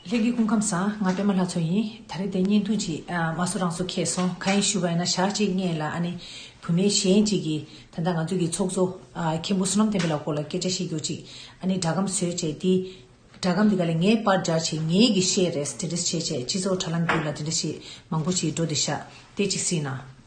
ལྷན་སྐྱེས་སྐུ་ཁམས་བཟང་ང་པད་མ་ལྷ་མཚོ་ཡིན་ད་རེས་དེ་བརྙན་ཐུང་ཅིག་མ་བཟོ་རང་བཟོ་ཁྱད་སོང་གང་ཡིན་ཞུ་བ་ཡིན་ན་ཞག་གཅིག་བརྙས་ལ་ཨ་ནེ་བུ་མེད་གཞན་གཅིག་གིས་ད་ལྟ་ང་ཚོའི་གི་ཚོགས་གཙོ་མཁན་པོ་བསོད་ནམས་བསྟན་པའི་ལགས་སྐོར་ལ་སྐད་ཆ་བཤད་རྒྱུ་ཅིག་ཨ་ནེ་སྒྲ་སྒམ་ཟོས་བྱས་དེ་སྒྲ་སྒམ་དེ་ག་ལས་ངས་པར་སྒྲ་བྱས་ངས་གི་བཤད་རེས་དེ་འདྲ་བྱས་བྱས་སྤྱི་ཚོགས་དྲ་ལམ་བརྒྱུད་ལ་དེ་འདྲ་བྱས་མང་པོ་བྱས་འགྲོ་དེ་ཞག་བལྟས་ཅིག་སྲིད་ན།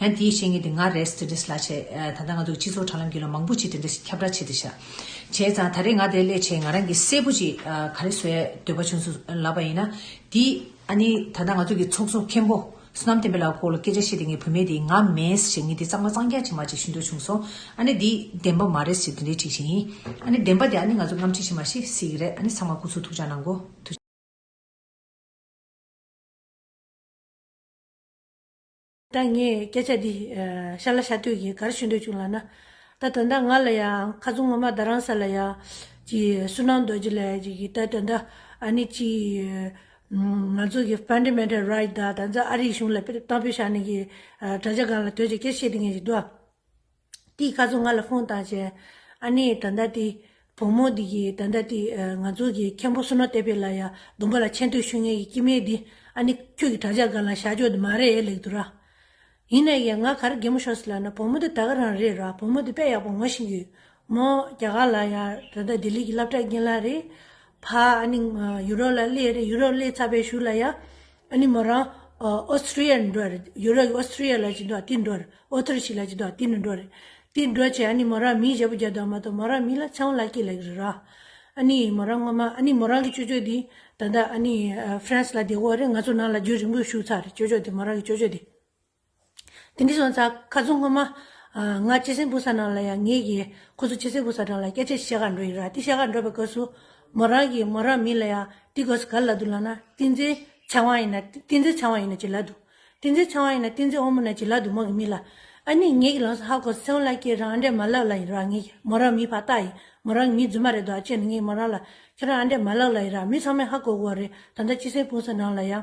ཡང་དེའི་བཤེས་གཉེན་དེ་ང་རེད་ཟེར་ཏེ་སླ་བྱས། ད་ལྟ་ང་ཚོ་གི་སྤྱི་ཚོགས་དྲ་ལམ་གྱི་ལོ་མང་པོ་ཅིག་དེ་འདྲ་ཞིག་ཁྱབ་བསྒྲགས་བྱས་ཏེ་བཞག། བྱས་ཙང་ད་རེས་ང་དེ་སླད་ཆེད་ང་རང་གིས་གསལ་པོ་ཅིག་ག་རེ་བཟོས་འདོད་པ་བྱུང་སོང་ལབ་པ་ཡིན་ན། དེ་ཨ་ནི་ད་ལྟ་ང་ཚོ་གི་ཚོགས་གཙོ་མཁན་པོ་བསོད་ནམས་བསྟན་པའི་ལགས་སྐོར་ལ་སྐད་ཆ་བཤད་དེ་ངའི་བུད་མེད་དེས་ང་མེད་ཟེར་ངེས་དེ་གཙང་མ་གཙང་རྒྱག་ཅིག་མ་ཅིག་ཞུ་འདོད་བྱུང་སོང་ཨ་ནི་དེ་བདེན་པ་མ་རེད་ཟེར་དེ་འདྲའི་ཁྲིགས་ཤིག་ཡིན། ཨ་ནི་བདེན་པ་དེ་ཨ་ནི་ང་ཚོ་རྔམ་ཁྲིགས་ཤིག་མ་ཤེས་སྲིད་ཀྱི་རེད་ཨ་ནི་ཚང་མ་སྐུ་ཚོགས་ཐུགས་ཅག་ནང་གོ། ད་ངས་སྐད་ཆ་འདི་ཤ་ལ་ཤ་དུས་ཀྱི་གར་ཞུ་འདོད་བྱུང་ལགས་ན། ད་དོན་དག་ང་ལ་ཡང་ཁ་ཚུགས་ངོ་མ་ད་རང་ས་ལ་ཡང་གྱི་སུན་སྣང་རྡོ་རྗེ་ལས་གྱི་གི་ད་དོན་དག་ཨ་ནི་གྱི། ང་ཚོ་གི Fundamental Right དག་ད་ནས་ཨ་རིའི་གཞུང་ལ་གཏང་ཕོད་ཤག་ནས་གི་དྲ་རྒྱ་སྒང་ལ་དོད་ཀྱི་སྐད་བཤད་དེ་ངས་གྱི་འདུག་ཨ། དེའི་སྐལ་བཟང་ང་ལ་ཕོངས་དང་བཅས། ཨ་ནེ་ད་ལྟ་དེ། བུ་མོ་འདི་ཡིས་ད་ལྟ་དེ། ང་ཚོ་གི་མཁན་པོ་སུ་ནོ་ཏེ་པེ་ལ་ཡ་དུམ་པ་ལ་མཆན་བསྟོད་ཞུ་ངེས་ཀྱི་ཀྱི་མེད་དེ། ཨ་ནེ། ཁྱོད་ཀྱི་དྲ་ཇག་སྒང་ལ་ཞག་འཇོག་དེ་མ་རེད་ལེགས་འདུག་ར། ཡིན་ན་ཡང་ང་གར་རྒན་མོ་ཤོར་སི་ལ་ན་བུ་མོ་འདི་ད་ག་རང་རེད་ར་བུ་མོ་འདི་དཔེ་ཡག་པོ་ངོ་ཤེས་ཀྱི་ཡོད་མོ། རྒྱ་གར་ལ་ཡ་ད་ལྟ་དེ་ལི་གི་སླབ་གྲ་རྒན་ལ་རེད། ཕ། ཨ་ནེ། ཡུ་རོ་ལ་སླེ་རེད་ཡུ་རོ་སླེ་ཚ་བས་ཞུ་ལ་ཡ། ཨ་ནི་མོ་རང་ཨོ་སི་ཀྲི་ཡའི་ནི་འགྲོ་རེད་ཡོ་རོད་ཀྱི་ཨོ་སི་ཀྲི་ཡའི་ལ་ཅིག་འགྲོ་བ་དེ་འགྲོ་རེད་ཨོ་ཐི་རི་ཞིག་ལ་ཅིག་འགྲོ་བ་དེ་ནི་འགྲོ་རེད་དེ་འགྲོ་ཆེད་ཨ་ནི་མོ་རང་མིའི་བཞེད་པོ་རྒྱབ་དང་མ་གཏོགས་མོ་རང་མི་ལ་ཆང་བོ་ལ་སྐྱེས་ལ་གི་རེད་ར། ཨ་ནི་མོ་རང་སྔོན་མ་ཨ་ནི་མོ་རང་གི་ཅོ་ཅོ་དེ་ད་ལྟ་ཨ་ནི་ཧྥི་རན་སི་ལ་བསྡད་གོ་རེད་ང་ཚོ་ནང་ལ་རྒྱུན་རིང་པོས་བཞུགས་ཚར་རེད་ཅོ་ཅོ་དེ་མོ་རང་གི་ཅོ་ཅོ་དེ། དེང་གི་སོན་རྩ་ཁ་རྫུན་སྔོན་མ། ང་སྐྱེ་སྲིང་སྤུ་ས་ནང་ལ་ཡང་ངེས་ཀྱི། ཁོ་ཚོ་སྐྱེ་སྲིང་སྤུ་ས་གྲང་ལ་སྐྱེ་ཆེད་ཤེས་དགར་འགྲོ་ཡི་ར་དེ་ཤེས་དགར་འགྲོ་བའི་སྐབས་སུ། མོ་རང་གིས་མོ་རང་མིན་ལ་ཡང་དེ་སྒོས་སུ་གར་ལ་འདུག་ལགས་ན་ཏིང་འཛིན་ཆང་བ་ཡིན་ན་ཏིང་འཛིན་ཆང་བ་ཡིན་ན་ཅི་ལ་འདུག་ཏིང་འཛིན་ཆང་བ་ཡིན་ན་ཏིང་འཛིན་ཨོང་མོ་ན་ཅི་ལ་འདུག་མོ་གི་མིན་ལ། ཨ་ནི་ངེད་ཀྱི་ལོངས་སུ་ཧ་གོ་སོང་ལ་ཁྱེད་རང་ཨ་འདྲས་མ་ལགས་ལ་ཡི་ར་ངེད་ཀྱི་མོ་རང་མིན་བ་ལྟ་ཡིན་མོ་རང་གི་མིན་རྫུན་མ་རེད་དོ་ཨ་ཅེ་ནི་ངེད་མོ་རང་ལ་ཁྱེད་རང་ཨ་འདྲས་མ་ལགས་ལ་ཡི་ར་མི་ཚང་མས་ཧ་གོ་གོ་བ་རེད་ད་ལྟ་སྐྱེ་སྲིང་སྤུ་ས་ནང་ལ་ཡང།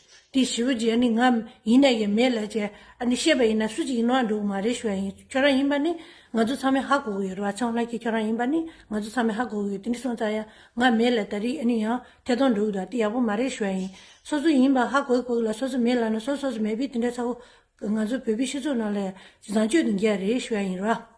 དེ་ཞི་བུ་རྗེ་ནི་ང་ཡིན་ན་ཡིན་མེད་ལ་བྱས་ཨ་ནི་ཤེས་པ་ཡིན་ན་སུ་གཅིག་ཡིན་ནོ་ཨ་འགྲོ་གི་མ་རེད་ཞུ་བ་ཡིན་ཁྱོད་རང་ཡིན་པ་ནི་ང་ཚོ་ཚང་མའི་ཧ་གོ་གི་ཡོད་རེད་བ་ཆང་ལྷ་ཁྱེད་ཁྱོད་རང་ཡིན་པ་ནི་ང་ཚོ་ཚང་མའི་ཧ་གོ་གི་ཡོད་དེ་ནི་སོང་ཙང་ཡང་ང་མེད་ལ་ད་རེས་ཨ་ནི་ཡང་ཐད་གཏོང་འགྲོ་གི་འདུག་དེ་ཡག་པོ་མ་རེད་ཞུ་བ་ཡིན་སོ་སོ་ཡིན་པ་ཧ་གོ་གི་ཕོ་གི་ལ་སོ་སོ་མེད་ལ་ན་སོ་སོ་སོ་མེད་པའི་དེ་འདྲ་ཚ་བོ་ང་ཚོ་བོད་པའི་སྤྱི་ཚོགས་ནང་ལ་བཟང་སྤྱོད་དེ་འགལ་རེད་ཞུ་བ་ཡིན་རེད་བ།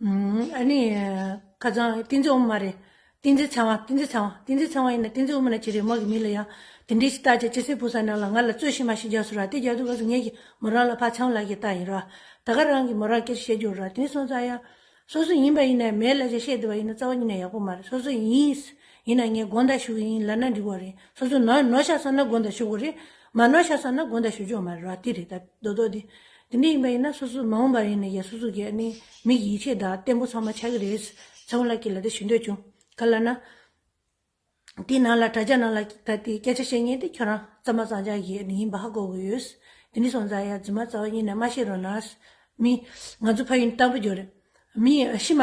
ཨཱ་ནི། ཁ་རྩང་ཏིང་འཛིན་དབུ་མ་རེད། ཏིང་འཛིན་ཚང་བ་ཏིང་འཛིན་ཚང་བ་ཏིང་འཛིན་ཚང་བ་ཡིན་ན་ཏིང་འཛིན་དབུ་མ་ནི་ཅི་རེད་མོ་གི་མི་ལ་ཡང་དེ་འདྲའི་ཞིག་བཏགས་རྗེས་སྤྱི་སེམས་ཕུག་ས་ནང་ལ་ང་ལ་རྩོད་གཞི་མ་ཞིག་རྒྱག་སོང་ར་དེ་རྒྱག་དུས་ང་གཟུགས་བརྙན་གྱི་མོ་རང་ལ་ཕ་ཆང་ལགས་ཀྱི་རྟགས་ཡིན་ར། ད་ག་རང་གིས་མོ་རང་སྐད་ཆ་བཤད་རྒྱུ་ར་དེང་སོང་ཙང་ཡ། སོ་སོ་ཡིན་པ་ཡིན་ནའི་མའི་ལ་ཆ་བཤད་བསྡད་པ་ཡིན་ན་རྩ་བ་ཉིད་ནས་ཡག་པོ་མ་རེད་སོ་སོ་ཡིན། ཡིན་ན་ངས་དགོངས་དག་ཞུ་གི་ཡིན་ལ་ན་འགྲིག་བ་རེད་སོ་སོ་ནོ་ནོ་ཤག་སོང་ན་དགོངས་དག་ཞུ་དགོས་རེད། མ་ནོ་ཤག་སོང་ན་དགོངས་དག་ཞུ་ཆོག་མ་རེད་ར་དེ་རེད་ད་རྡོག་རྡོག་དེ། དེ་འདྲ་ཡིན་པ་ཡིན་ན་སོ་སོ་མ་འོངས་པར་ཡིན་ནས་ཡ་སོ་སོ་གི་ནི་མིག་ཡིད་ཆེས་དང་བརྟན་པོ་ཚང་མ་ཆགས་ཀྱི་རེད། ཚེ་དབང་ལགས་ཀྱིས་ལ་དེ་ཞུ་འདོད་བྱུང། ག་ལ་ན། དེའི་ནང་ལ་དྲ་རྒྱ་ནང་ལ་ད་ལྟའི་སྐད་ཆ་བཤད་ཉེན་དེ་ཁྱོད་རང་རྩ་མ་གཙང་ཆགས་ཀྱི་ནི་ཡིན་པ་ཧ་གོ་གི་ཡོད། དེ་ནི་སོང་ཙང་ཡ་རྫུན་མ་རྩ་བ་ཉིད་ནས་མ་བཤད་རོགས་གནང། མི། ང་ཚོ་ཕ་ཡུལ་ནི་དམ་པོ་རྒྱུ་རེད། མི། ཤི་མ།